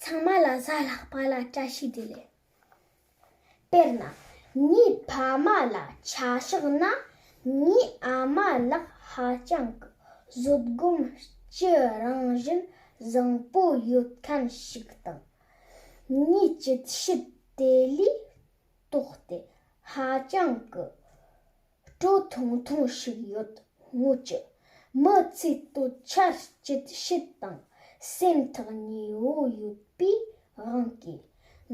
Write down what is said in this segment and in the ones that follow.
ཚང་མ་ལ་གཟའ་ལྷག་པ་ལ་བཀྲ་ཤིས་བདེ་ལེགས། དཔེར་ན། ངའི་ཕ་མ་ལ་ཆ་བཞག་ན་ངའི་ཨ་མ་ལགས་ཧ་ཅང་གི་བཟོད་སྒོམ་སྤྱི་རང་བཞིན་བཟང་པོ་ཡོད་མཁན་ཞིག་དང། ངའི་སྤྱི་ཞི་བདེ་ལུས་སྟོབས་དེ་ཧ་ཅང་གི་སྤྲོ་ཐུང་ཐུང་ཞིག་ཡོད་སྔོན་གྱི་མི་ཚེའི་གཏོད་ཆར་སྐྱིད་ཤོས་དང་སེམས་ཐག་ཉེ་བོ་ཡོད་པའི་དབང་གིས་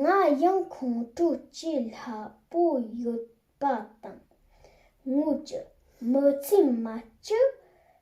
ང་ཡང་ཁོང་ཁྲོ་སྐྱེ་སླ་པོ་ཡོད་པ་དང། སྔོན་གྱི་མི་ཚེའི་མ་སྐྱིད་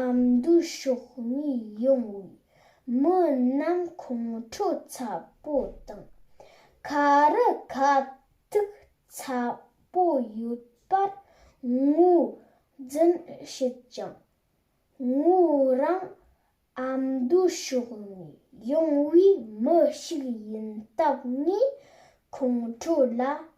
ཨམ་མདོའི་ཕྱོགས་གཉིས་ཡོང་བའི་མི་རྣམས་ཁོང་ཁྲོ་ཚ་པོ་དང་ཁ་རུ་ཁ་ཐུག་ཚ་པོ་ཡོད་པར་ངོས་འཛིན་བྱེད་ཅིང། ངོས་རང་ཨམ་མདོའི་ཕྱོགས་ནས་ཡོང་བའི་མི་ཞིག་ཡིན་སྟབས་ངས་ཁོང་ཁྲོ་ལ